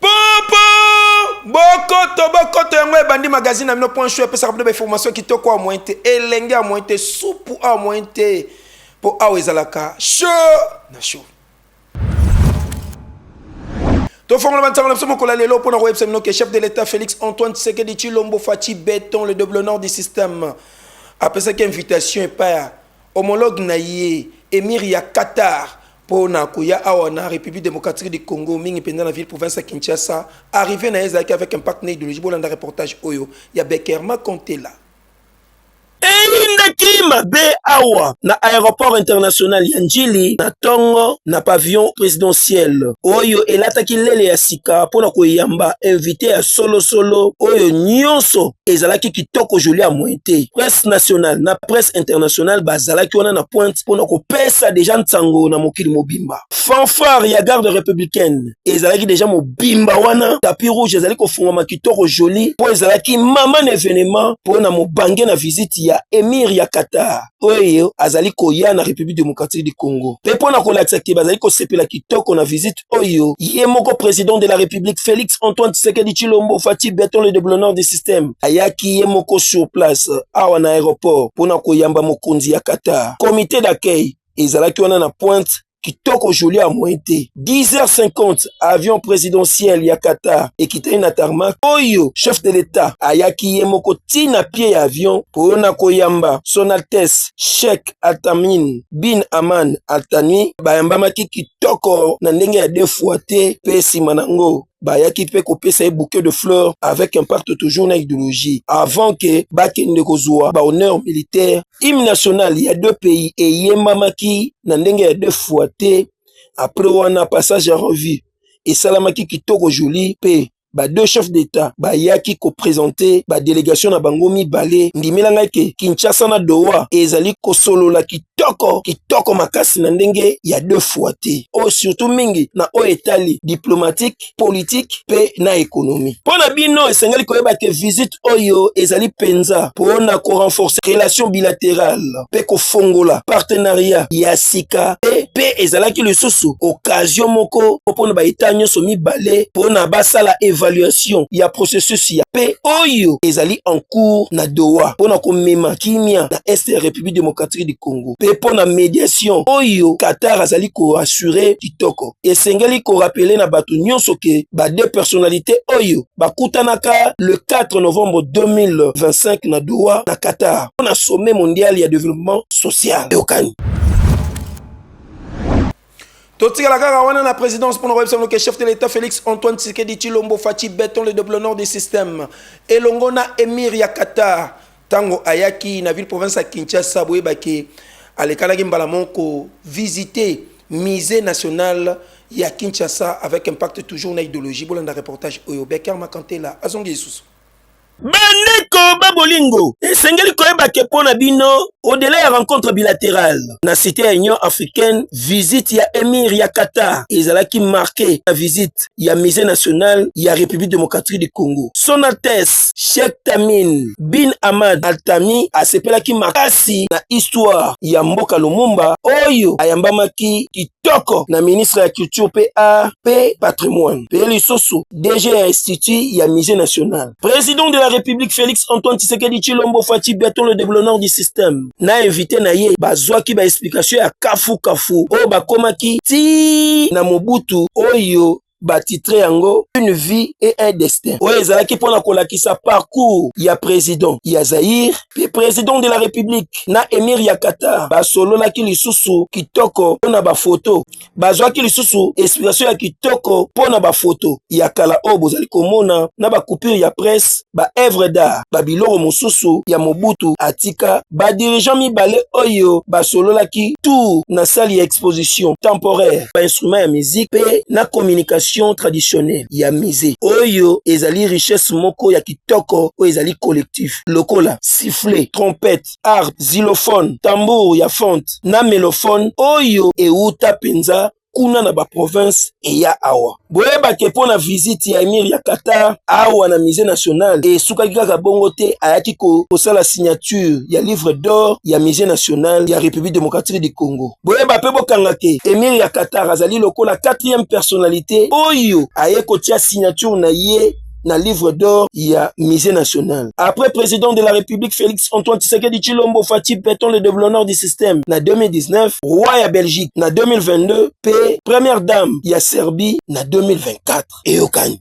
Popo bokoto bokoto yango ebandi magazine na bino point show epesaka bino bainformation kitoko awa moyen te elenge awa moyen te supu awa moyen te mpo awa ezalaka show na show tofongola bansango na biso mokolo ya lelo mpo na koyebisa bino ke chef de l'état félix antoine tshisekedi tshilombo faci beton le double nord du système apesaki invitation epai ya homologue na ye emir ya qatar mpo na koya awa na République démocratique du Congo mingi mpenza na ville province ya Kinshasa arrivé na ye ezalaki avec impact na idéologie bolanda reportage oyo ya Beckerma Contela eyindaki mabe awa na aéroport international ya Ndjili na tongo na pavillon présidentiel oyo elataki lele ya sika mpo na koyamba invité ya solosolo oyo nyonso ezalaki kitoko joli ya moyen te presse nationale na presse internationale bazalaki wana na pointe mpona kopesa deja nsango na mokili mobimba fanfare ya garde républicaine ezalaki deja mobimba wana tapi rouge ezali kofungwama kitoko joli mpo ezalaki mama na evenement mpo na mobange na visite ya emir ya qatar oyo azali koya na république démocratique du congo mpe mpo na kolakisa te bazali kosepela kitoko na visite oyo ye moko president de la République Félix Antoine Tshisekedi Chilombo Fatih Beton le déblonneur du système ayaki ye moko sur place awa na aéroport mpo na koyamba mokonzi ya Qatar. Comité d'accueil ezalaki wana na pointe kitoko joli ya moyen te 10h50 avion présidentiel ya Qatar ekitani na tarmac oyo chef de l'État ayaki ye moko ti na pie ya avion mpo na koyamba son altesse Sheikh Atamin bin Aman Atani bayambamaki kitoko na ndenge ya deux fois te mpe nsima na yango bayaki mpe kopesa ye bouquet de fleurs avec impact toujours na idéologie avant que bakende kozwa ba honneur militaire hymne national ya deux pays eyembamaki na ndenge ya deux fois te après wana passage ya revue esalamaki kitoko joli mpe ba deux chefs d'État bayaki kopresente badelegation na bango mibale. Ndimela ngai ke Kinshasa na Doha ezali kosolola kitoko kitoko makasi na ndenge ya deux fois te, oyo surtout mingi na oyo etali diplomatique, politique mpe na ekonomi. Mpo na bino esengeli koyeba ke visite oyo ezali mpenza mpo na korenforce relation bilaterale. mpe kofongola partenariat ya sika mpe mpe ezalaki lisusu okazio moko mpo na baeta nyonso mibale mpo na basala evaluation ya processus ya mpe oyo ezali en cours na Doha mpo na komema kimia na est ya République démocratique du Congo mpe mpo na mediation oyo Qatar azali koassure kitoko. esengeli korapele na bato nyonso ke ba deux personnalite oyo bakutanaka le 4 novembre 2025 na Doha na Qatar mpo na sommet mondial ya developpement social eyokani totikala kaka wana na présidence mpo na koyebisa bino ke chef de l'état félix antoine tshisekedi tshilombo faci beton le double nord du système elongo na émir ya qatar Tango ayaki na ville province ya Kinshasa boyeba ke alekanaki mbala moko visiter musée national ya Kinshasa avec impact toujours na idéologie bolanda reportage oyo Becker Makantela azongi lisusu bandeko ba bolingo esengeli koyeba ke mpo na bino odela ya rencontre bilaterale na site ya union africaine visite ya emir ya qatar ezalaki marke na visite ya musée national ya république démocratique du congo sonates sheikh tamin bin amad altami asepelaki makasi na histoire ya mboka lumumba oyo ayambamaki kitoko na ministre ya culture mpe art mpe patrimoine mpe lisusu dg ya institut ya musée national président de la république félix antoine tshisekedi tshilombo faci biaton le déblonneur du système na invité na ye bazwaki ba explication ya kafu kafu oyo bakomaki ti na mobutu oyo batitre yango une vie et un destin oyo ezalaki mpo na kolakisa parcours ya président ya zaïre mpe président de la république na émir ya qatar basololaki lisusu kitoko mpo na bafoto bazwaki lisusu inspiration ya kitoko mpo na bafoto ya kala oyo bozali komona na bacoupure ya presse baevre d'art babiloko mosusu ya mobutu atika badirigant mibale oyo basololaki tour na sali ya exposition temporaire bainstrument ya musique mpe na communication traditionnelle ya musée oyo ezali richesse moko ya kitoko oyo ezali collectif lokola sifflet trompette harpe, xylophone, tambour ya fonte na melophone oyo ewuta penza kuna na ba provinces eya awa. Boyeba ke mpo na visite ya Emir ya Qatar awa na Musee National esukaki kaka bongo te, ayaki kosala signature ya livre d'or ya Musee National ya Republique Democratique du Congo. Boyeba mpe bokanga ke Emir ya Qatar azali lokola quatrième personnalite oyo aye kotia signature na ye na livre d'or ya musée national après président de la république félix antoine tshisekedi tshilombo fati beton le développeur du système na 2019 roi ya belgique na 2022 mpe première dame ya serbie na 2024 eyokani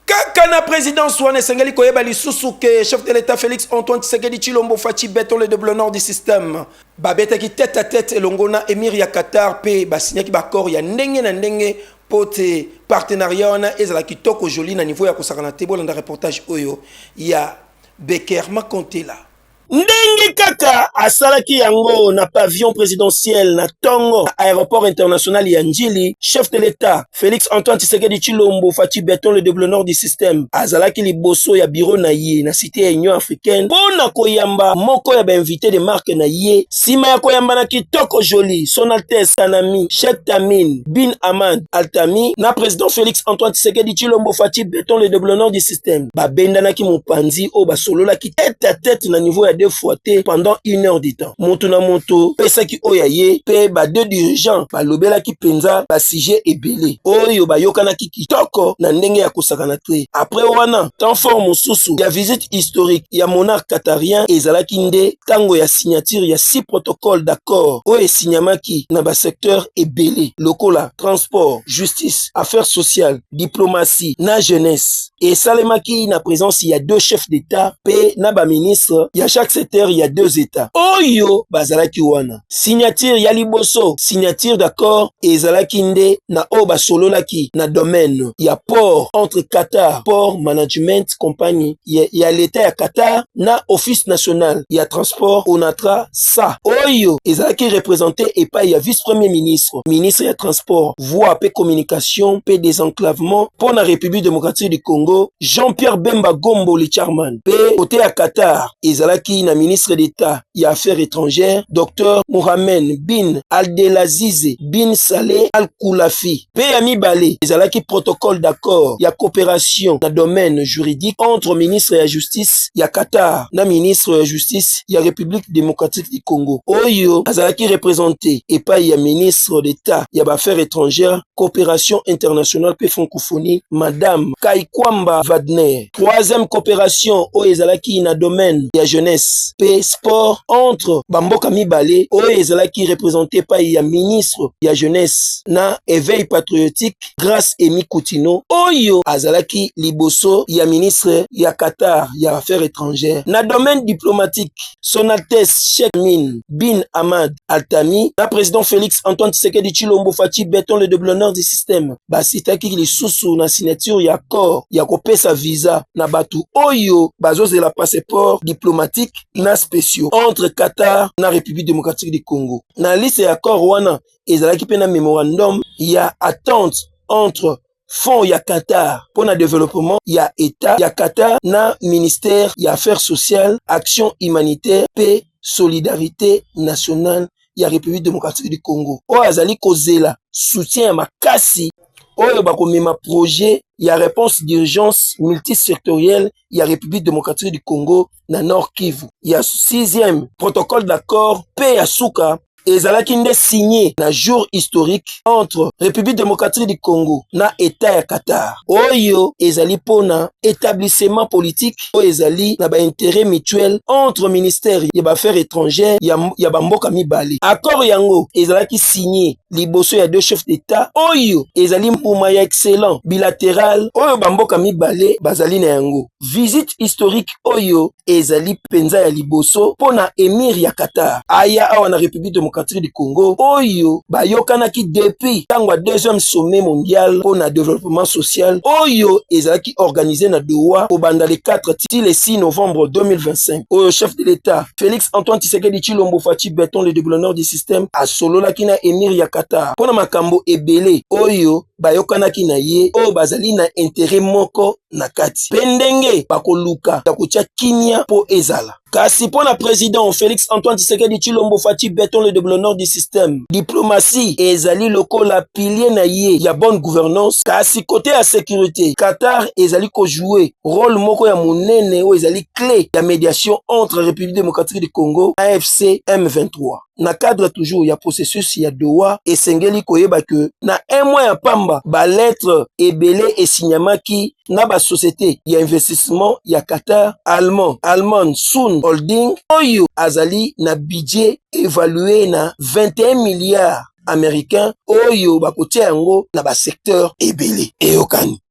kaka na présidence wana esengeli koyeba lisusu ke chef de l'état félix antoine tshisekedi tshilombo fati beton le développeur du système babetaki tete à tete elongo na émir ya qatar mpe basignaki baaccord ya ndenge na ndenge po te partenariat wana ezala kitoko joli na niveau ya kosakana te bolanda reportage oyo ya beker makontela ndenge kaka asalaki yango na pavillon présidentiel na tongo aéroport international ya njili chef de l'état félix antoine tshisekedi tshilombo faci beton le deblonor du système azalaki liboso ya biro na ye na cité ya union africaine mpo na koyamba moko ya bainvité de marque na ye nsima ya koyambana kitoko joli son altesse sanami chek tamin bin amand altami na president félix antoine tisekedi chilombo faci beton le deblonor du système babendanaki mopanzi oyo basololaki tete a tete na niveau ya deux fois te pendant une heure du temps moto na moto pesaki oyo ya ye mpe ba deux dirigeants balobelaki mpenza basujet ebele oyo bayokanaki kitoko na ndenge ya kosakana te. Apres wana, temps fort mosusu ya visite historique ya monarque qatarien ezalaki nde tango ya signature ya six protocoles d'accords oyo esignamaki na ba secteurs ebele lokola transport, justice, affaires sociales, diplomatie na jeunesse. Esalemaki na presence ya deux chefs d'Etat mpe na ba ministres ya chaque secteur ya deux Etats oyo bazalaki wana. signature ya liboso signature d'accord ezalaki nde na oyo basololaki na domaine ya port entre Qatar Port Management Company ya, ya leta ya Qatar na Office national ya transport ONATRA sa oyo ezalaki represente epai ya vice-premier ministre ministre ya transport voie pe communication pe desenclavement mpo na République démocratique du Congo Jean-Pierre Bemba Gombo Licharman pe kote ya Qatar ezalaki na ministre d'État ya affaires étrangères Dr Mohamed bin Abdelaziz bin Saleh Al Khulafi mpe ya mibale ezalaki protocole d'accord ya coopération na domaine juridique entre ministre ya justice ya Qatar na ministre ya justice ya République démocratique du Congo oyo azalaki représente epai ya ministre d'État ya ba affaires étrangères coopération internationale mpe francophonie madame Kaikwamba Wagner Troisième coopération oyo ezalaki na domaine ya jeunesse pe sport entre bamboka mibale oyo ezalaki represente pai ya ministre ya jeunesse na eveil patriotique Grace Emi Kutino oyo azalaki liboso ya ministre ya Qatar ya affaires étrangères na domaine diplomatique son altesse Cheikh Min Bin Ahmad Altami na président Félix Antoine Tshisekedi Tshilombo Fatshi Beton le deblonneur du système basitaki lisusu na signature ya accord ya kopesa visa na bato oyo bazozela passeport diplomatique na spéciaux entre Qatar na République démocratique du Congo na liste ya accord wana ezalaki mpe na memorandum ya attente entre fonds ya Qatar pour le développement ya état ya Qatar na ministère ya affaires sociales action humanitaire paix solidarité nationale ya République démocratique du Congo oyo azali kozela soutien ya makasi oyo bakomema projet ya réponse d'urgence multisectorielle ya République démocratique du Congo na Nord Kivu ya 6e protocole d'accord pe ya suka ezalaki nde signe na jour historique entre République démocratique du Congo na État ya Qatar oyo ezali mpo na établissement politique oyo ezali na baintérêt mutuel entre ministère ya baaffaires étrangères ya, ya bamboka mibale accord yango ezalaki signe liboso ya deux chefs d'etat oyo ezali mbuma ya excellent bilateral oyo bamboka mibale bazali na yango visite historique oyo ezali mpenza ya liboso mpo na emir ya qatar aya awa na république démocratique du congo oyo bayokanaki depuis ntango ya deuxième sommet mondial mpo na développement social oyo ezalaki organise na doha kobanda le 4 ti le 6 novembre 2025 oyo chef de l'état félix antoine tisekedi chilombo faci beton le degoulonneur du System asololaki na emir ya Qatar mpo na makambo ebele oyo bayokanaki na ye oyo bazali na intere moko na kati mpe ndenge bakoluka ya kotya kimia mpo ezala. Kasi mpo na president Felix Antoine Tshisekedi Tshilombo Fatshi Beton le Deblonor du système, diplomatie ezali lokola pilier na ye ya bonne gouvernance kasi kote ya securite Qatar ezali kojoue role moko ya monene oyo ezali clé ya médiation entre République démocratique du Congo AFC M23 na cadre toujours ya processus ya Doha esengeli koyeba que na un mois ya pamba ba lettres ebele esignamaki na ba société ya investissement ya Qatar allemand Alman Sun Holding oyo azali na budget évalué na 21 milliards américains oyo bakotia yango na ba secteur ebele eyokani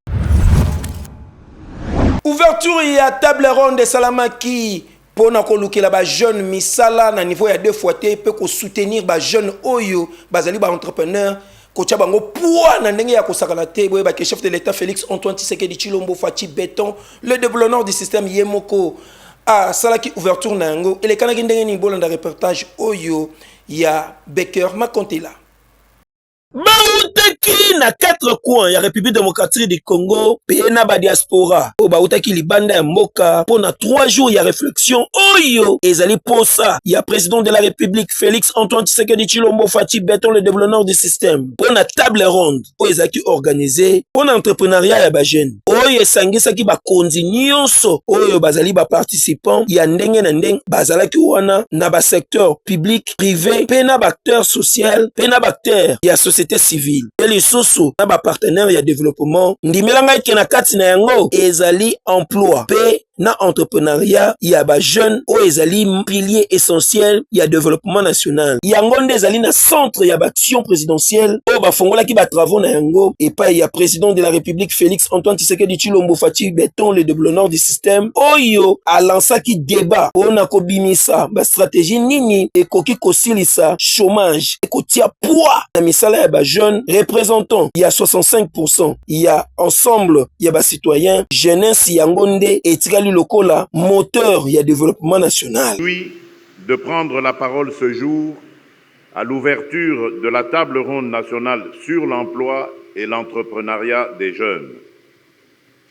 Ouverture ya table ronde esalamaki mpo na kolukela bajeune misala na niveau ya deux fois te mpe kosoutenir bajeune oyo bazali baentrepreneur kotya bango poids na ndenge ya kosakana te boyeba ke chef de l'état félix antoine tshisekedi tshilombo faci beton le déblonneur du système ye moko asalaki ouverture na yango elekanaki ndenge nini bolanda reportage oyo ya becker makontela bautaki na quatre coin ya république démocratique du congo mpe na badiaspora oyo bautaki libanda ya mboka mpo na trois jours ya réflexion oyo ezali mposa ya président de la république félix antoine tshisekedi tshilombo faci beton le développement du système mpo na table ronde oyo ezalaki organise mpo na entreprenariat ya bajeune oyo esangisaki bakonzi nyonso oyo bazali baparticipant ya ndenge na ndenge bazalaki wana na basecteur public prive mpe na baacteur social mpe na baacteur ya société civile mpe lisusu na bapartenaire ya développement ndimela ngai ke na kati na yango ezali emploi mpe na entrepreneuriat ya bajeune oyo ezali pilier essentiel ya développement national yango nde ezali na centre ya baaction présidentielle oyo bafongolaki batravaux na yango epai ya président de la république félix antoine tshisekedi tshilombo faci beton le de blonor système oyo alansaki debat mpo na kobimisa bastrategie nini ekoki kosilisa chômage ekotia poids na misala ya bajeune représentant ya 65 ya ensemble ya bacitoyen jeunesse yango nde etikali lokola moteur ya developpement national. de prendre la parole ce jour à l'ouverture de la table ronde nationale sur l'emploi et l'entreprenariat des jeunes.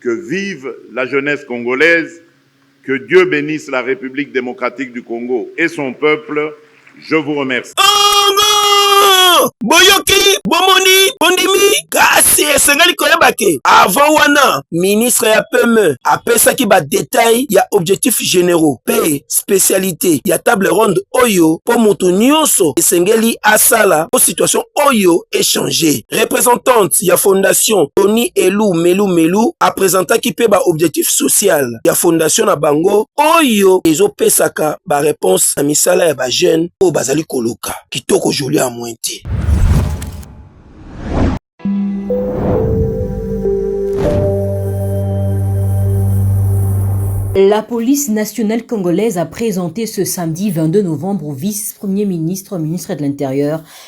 Que vive la jeunesse congolaise, que Dieu benisse la Republique democratique du Congo et son peuple, je vous remercie. Congo! Boyoki, bomoni, bondimi, kasi esengeli koyeba ke avant wana ministre ya PME apesaki ba details ya objectif generaux pe specialite ya table ronde oyo po mutu nionso esengeli asala po situation oyo echange. Representante ya fondation Tony Elu Melu Melu apresentaki mpe ba objectif social ya fondation na bango oyo ezopesaka ba reponse na misala ya ba jeune oyo bazali koluka kitoko Julia Mwenti. La police nationale congolaise a présenté ce samedi 22 novembre au vice-premier ministre, ministre de l'Intérieur,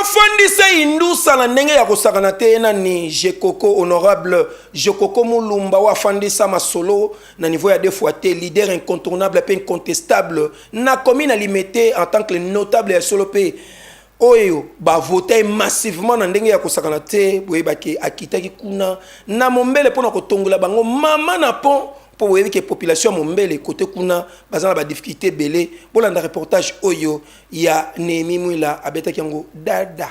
afandisa indusa na ndenge ya kosakana te na ni jekoko honorable jekoko mulumba oyo afandisa masolo na niveau ya deux fois te leader incontournable mpe incontestable na komi na limete en tant que notable ya solo mpe oyo ba vota ye massivement na ndenge ya kosakana te boyebaki akitaki kuna na mombele mpo na kotongola bango mama na pont mpo boyebi ke population ya mombele kote kuna baza na badifficulté ebele bolanda reportage oyo ya nehemi mwila abetaki yango dada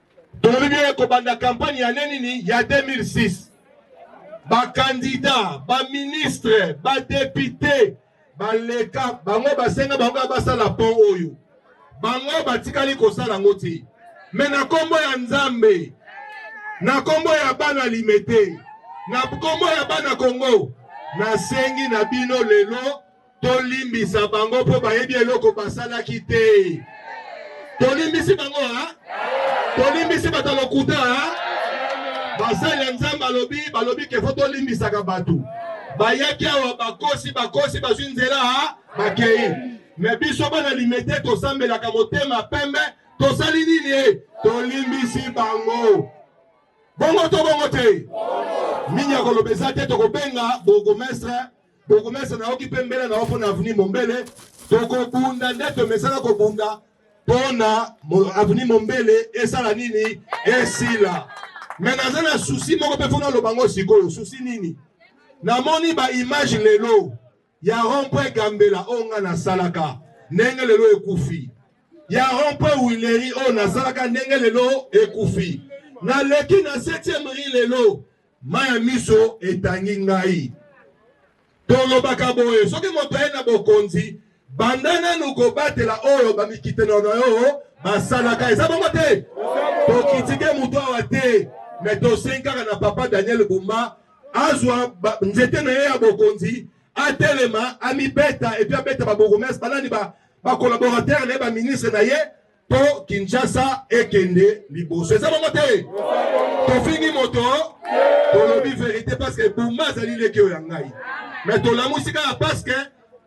tolobi bino ye kobanda kampanye ya ne nini ya 2006 bakandida baministre badepute baleka bango basenga bango kaka basala pont oyo bango batikali kosala yango te me na nkombo ya nzambe na nkombo ya bana limete na nkombo ya bana kongo nasengi na bino lelo tolimbisa bango mpo bayebi eloko basalaki te tolimbisi bango a tolimbisi bato ya lokuta a basali ya nzambe alobi balobi kefo tolimbisaka bato bayaki awa bakosi bakosi bazwi nzela a bakei me biso bana limete tosambelaka motema pembe tosali nini e tolimbisi bango bongo to bongo te nini ya koloba eza te tokobenga bourgmestre bokumesa nayoki mpe mbela na yo mpo na aveni mombele tokobunda nde tomesana kobunda mpo na aveni mombele esala nini esila me naza na susi moko mpe mpo naloba ngo sikoyo susi nini namoni baimage lelo ya rompre gambela oyo ngai nasalaka ndenge lelo ekufi ya rompre wileri oyo nasalaka ndenge lelo ekufi naleki na 7e ri lelo Mai ya miso etangi ngai. Tolobaka boye, soki moto aye na bokonzi, banda nanu kobatela oyo bamikitelo na yo basalaka. Eza bongo te? Tokitike moto awa te, me tosengi kaka na papa Daniel Bumba azwa nzete na ye ya bokonzi atelema amibeta epi abeta babourgmestre banani bakolaboratere na ye baministre na ye po kinshasa ekende liboso eza bongo te tofingi moto tolobi verite parceke buma azali leki oyo ya ngai me tolamusi kaka parceke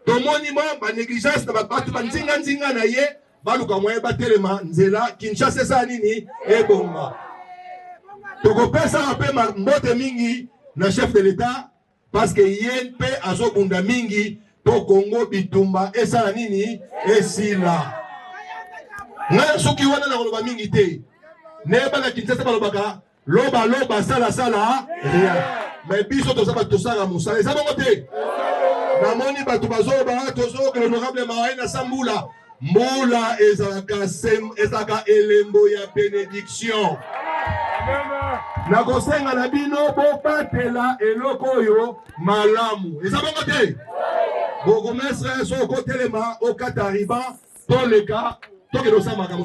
tomoni mwa banégligence na bato banzinganzinga na ye baluka mwaye batelema nzela kinshasa esala nini ebonga tokopesaka mpe mbote mingi na chef de l'etat Parce que ye mpe azobunda mingi mpo Congo bitumba esala nini esila. Ngai soki wana nakoloba mingi te, neyebaka Kinshasa balobaka loba loba sala sala rien mais biso toza bato tosala mosala eza bongo te namoni bato bazoba tozoyoka honorable mawaina sambula mbula ezalaka ezalaka elembo ya benediction nakosenga na bino bobatela eloko oyo malamu eza bongo te bourgmestre so okotelema okata riba toleka tokende osala makambo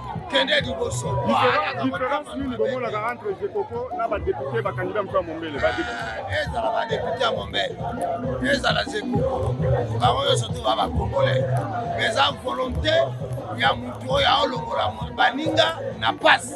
kende liboso différence nini bomonaka entre jekoko na badepute bakandida moto ya mombele ezala badepute ya mombele ezala jekoko bango nyonso to ba bakongole eza volonté ya motu oyo aolongola baninga na pasi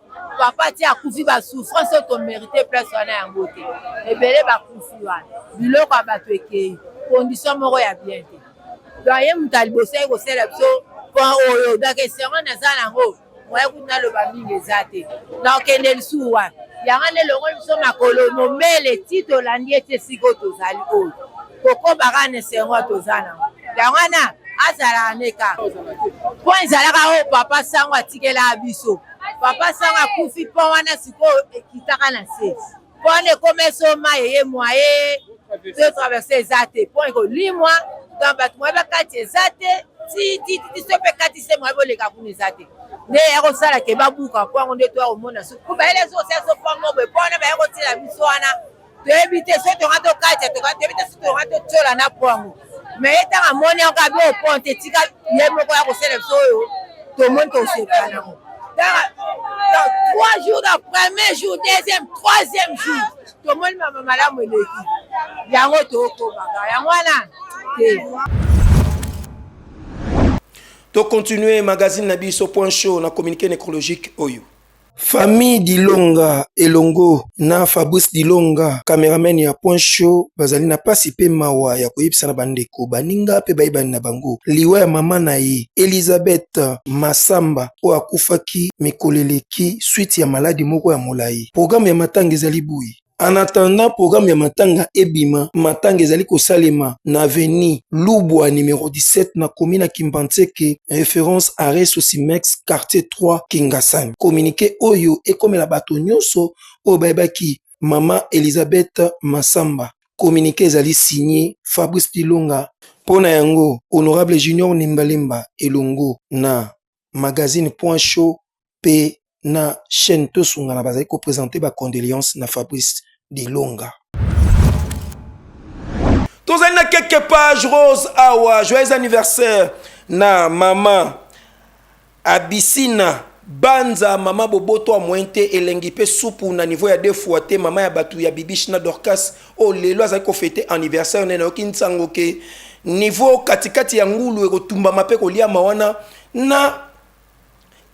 papa ti akufi basouffrance oyo tomerite place wana yango te ebele bakufi wana biloko ya bato ekei condition moko ya bien te donc ye moto aliboso yaki kosala biso pont oyo donc esengo naza nango moye kutu naloba mingi eza te nakokende lisusu wana yango nde elongoli biso makolo mombele ti tolandi ete sikoyo tozali oyo kokoba kaka na esengo toza nango yango wana azalaka nde kaka mpo ezalaka oyo papa sango atikelaka biso papa sanga akufi mpo wana sikoyo ekitaka na se mpo wana ekoma esoma eye mwaye to traverse eza te mpo ekolimwa donc bato mwaye bakati eza te titititi so mpe kati se mwaye boleka kuna eza te nde ya kosala ke babuka mpo yango nde toya komona suku bayele ezosala so mpo yango boye mpo wana baya kotila biso wana toyebi te soki tonga tokatya toyebi te soki tonga totyola na po yango me ye ntango amoni yango abi opon te tika ye moko ya kosala biso oyo tomoni tosepela nango trois jours na premier jour deuxième troisième jour tomoni mama malamu eleki yango tokobaka yango wana te tocontinue magazine na biso point show na communiqué nécrologique oyo Famille Dilonga elongo na Fabrice Dilonga cameraman ya Point Show bazali na pasi pe mawa ya koyebisa na bandeko baninga pe bayebani na bango liwa ya mama na ye Elisabeth Massamba oyo akufaki mikolo eleki suite ya maladi moko ya molayi. Programme ya matanga ezali boye. En attendant programme ya matanga ebima, matanga ezali kosalema na avenue Lubwa numero 17 na commune ya Kimbanseke, référence arrêt Sosimex quartier 3 Kingasani. Communiqué oyo ekomela bato nyonso oyo bayebaki mama Elisabeth Massamba. Communiqué ezali signé Fabrice Dilonga. Mpo na yango, honorable Junior Nimbalimba elongo na magazine point show pe na chaine tosungana bazali ko presente ba condoleance na fabrice dilonga tozali na keke page rose awa joyeux anniversaire na mama abisina banza mama boboto ya moyen te elengi mpe supu na niveau ya deux fois te mama ya bato ya bibish na dorcas oyo oh, lelo azali kofete anniversaire nene nayoki nsango ke niveau katikati ya ngulu ekotumbama mpe koliama wana na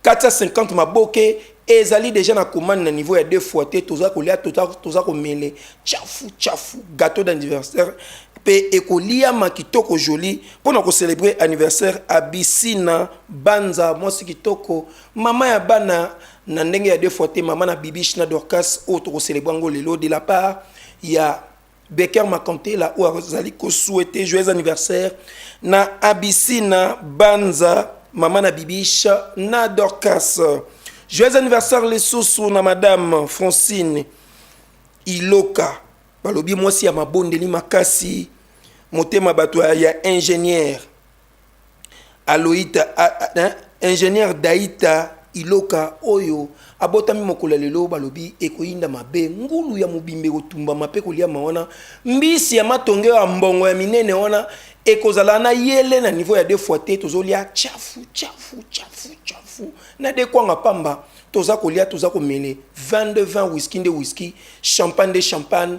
450 maboke ezali deja na commande na niveau ya deux fois te toza kolia toza komele chafu chafu gâteau d'anniversaire mpe ekoliama kitoko joli mpo na kocelebre anniversaire abisina banza mwasi kitoko mama ya bana na ndenge ya deux fois te mama na bibiche na dorcas oyo tokocelebre yango lelo de la part ya becker makantela oyo azali kosouete joyeux anniversaire na abisina banza mama na bibiche na dorcas joyeux anniversaire lisusu na madame francine iloka balobi mwasi ya mabondeli makasi motema bato ya ingénieur Aloïta, a, a, hein, ingénieur Daïta Iloka oyo abotami mokolo ya lelo balobi ekoyinda mabe ngulu ya mobimba ekotumbama mpe koliama wana mbisi ya matonge ya mbongo ya minene wana ekozala na yele na niveau ya deux fois te tozolia chafu chafu chafu chafu na dekwanga pamba toza kolia toza komele 22 20 whisky nde whisky champagne nde champagne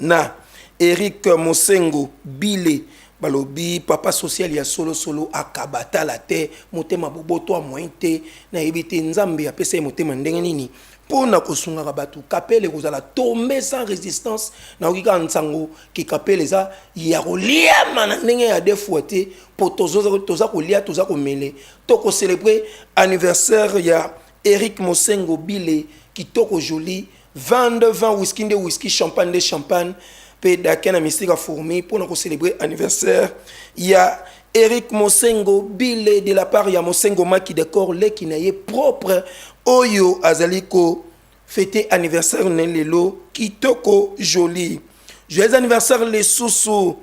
na Eric Mosengo Bile balobi papa social ya solo solo akaba tala te motema boboto a moyen te na yebi te nzambe apesa ye motema ndenge nini mpo na kosungaka bato kapele kozala tombe sans resistance nayoki kaka nsango ke kapele eza ya koliama na ndenge ya defua te mpo toza kolia toza komele to kocelebre anniversaire ya eric mosengo bile kitoko jolie 20 de 20 whisky nde whisky champagne nde champagne mpe dake na mystique ya fourmi mpo na kocelebre anniversaire ya eric mosengo bile de la part ya mosengo maki decor leki na ye propre oyo azali kofete anniversaire na lelo kitoko jolie joyeux anniversaire lisusu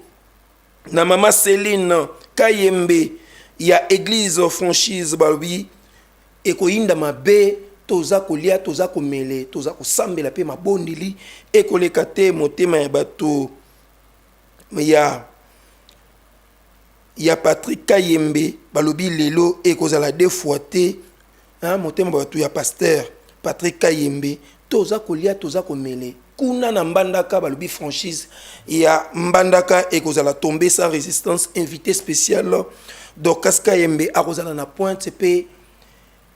na mama celine kayembe ya eglise franchise balobi ekoyinda mabe toza kolia toza komele toza kosambela mpe mabondeli ekoleka te motema ya bato ya ya patrick kayembe balobi lelo ekozala defoi te hein motema batu ya pasteur Patrick Kayembe toza kolia toza komele kuna na mbandaka balobi franchise ya mbandaka ekozala tombe sans résistance invité spécial Dorcas Kayembe akozala na pointe pe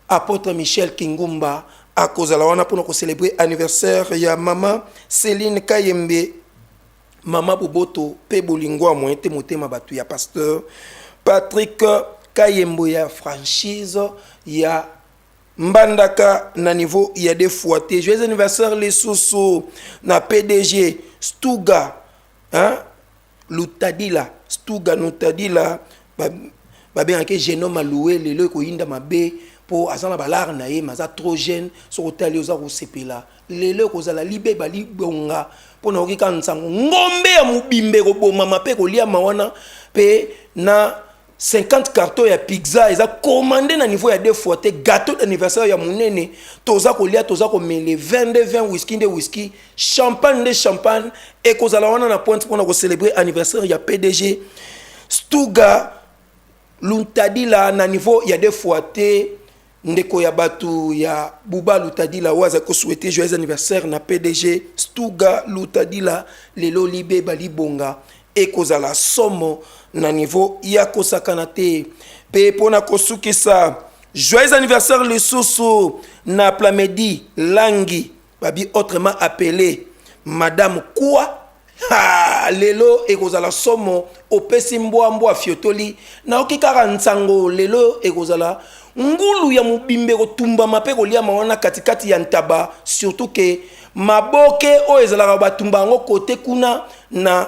apôtre Michel Kingumba akozala wana pona ko célébrer anniversaire ya mama Céline Kayembe Mama boboto pe bolingo ya moyen te motema batu ya pasteur Patrick Kayembo ya franchise ya Mbandaka na niveau ya deux fois te. Joyeux anniversaire lisusu na PDG Stuga hein? Lutadila Stuga Nutadila babengaki jeune homme aloue lelo ekoyinda mabe mpo aza na balare na ye mais aza trop jeune soki otali oza kosepela lelo ekozala libeba libonga mpo nayoki kaka nsango ngombe ya mobimba ekobomama mpe ekoliama wana mpe na 50 carton ya pizza eza commande na niveau ya deux fois te gâteau d'anniversaire ya monene toza kolia toza komele 22 20 whisky nde whisky champagne nde champagne ekozala wana na pointe mpona kocélébrer anniversaire ya pdg stuga luntadila na niveau ya deux fois te Ndeko ya batu ya Buba Lutadila oyo azali ko souhaiter joyeux anniversaire na PDG Stuga Lutadila lelo libeba libonga ekozala somo na niveau ya kosakana te mpe mpo na kosukisa joyeux anniversaire lisusu na Plamedi Langi babi autrement appelé madame quoi ha lelo ekozala somo opesi mbwa mbwa fiotoli nayoki kaka nsango lelo ekozala ngulu ya mobimba ekotumbama mpe koliama wana katikati ya ntaba surtout ke maboke oyo ezalaka batumba yango kote kuna na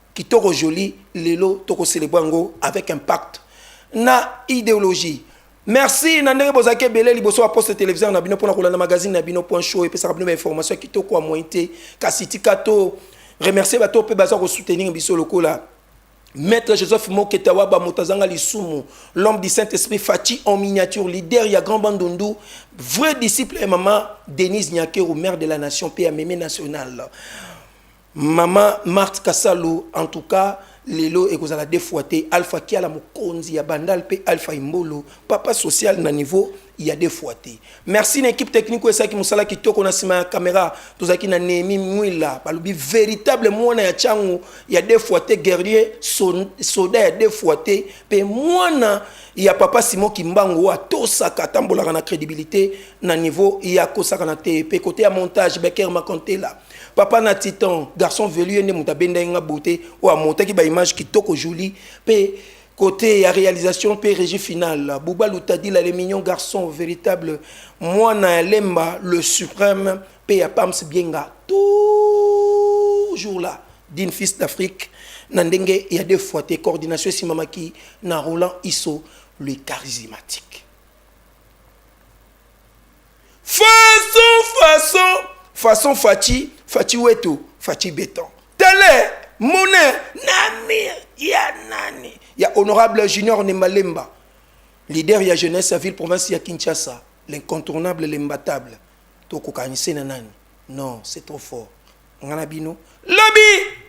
Kitoko Jolie lelo toko celebre yango avec impact na ideologie. Merci na ndenge bozalaki ebele liboso ba poste televiseur na bino pona kolanda magazine na bino point show epesaka bino ba information ya kitoko ya moyen te kasi tika to remercier bato oyo mpe baza ko soutenir biso lokola Maître Joseph Moketawaba Motazanga Lisumu, l'homme du Saint-Esprit Fatih en miniature, leader ya Grand Bandundu, vrai disciple et maman Denise Nyakero, mère de la nation, père mémé national. Maman Marthe Kasalu en tout cas lelo ekozala deux fois te Alpha Kiala mokonzi ya Bandal pe Alpha Imbolo papa social na niveau ya deux fois te merci na équipe technique oyo esalaki mosala kitoko na nsima ya camera tozalaki na Nehemi Mwila balobi véritable mwana ya chango ya deux fois te guerrier so- soda ya deux fois te pe mwana ya papa Simon Kimbangu oyo atosaka atambolaka na crédibilité na niveau ya kosakana te pe kote ya montage Becker Makontela papa na titan garçon velu ye nde moto abendaki nga beauté oyo amontaki baimage kitoko jolie mpe côté ya réalisation mpe régie finale buba lutadila le mignon garçon véritable mwana ya lemba le suprême mpe ya pams bienga toujours là dine fils d'afrique na ndenge ya deux fois te coordination esimamaki na roland iso le charismatique Façon, façon, façon Fatshi, Fatshi wetu, Fatshi beton. Tele, mone, namir, ya nani. Ya honorable Junior Nembalemba, leader ya jeunesse ya ville province ya Kinshasa, l'incontournable, l'imbattable. Toko kanise na nani. Non, c'est trop fort. Ngana bino, lobi!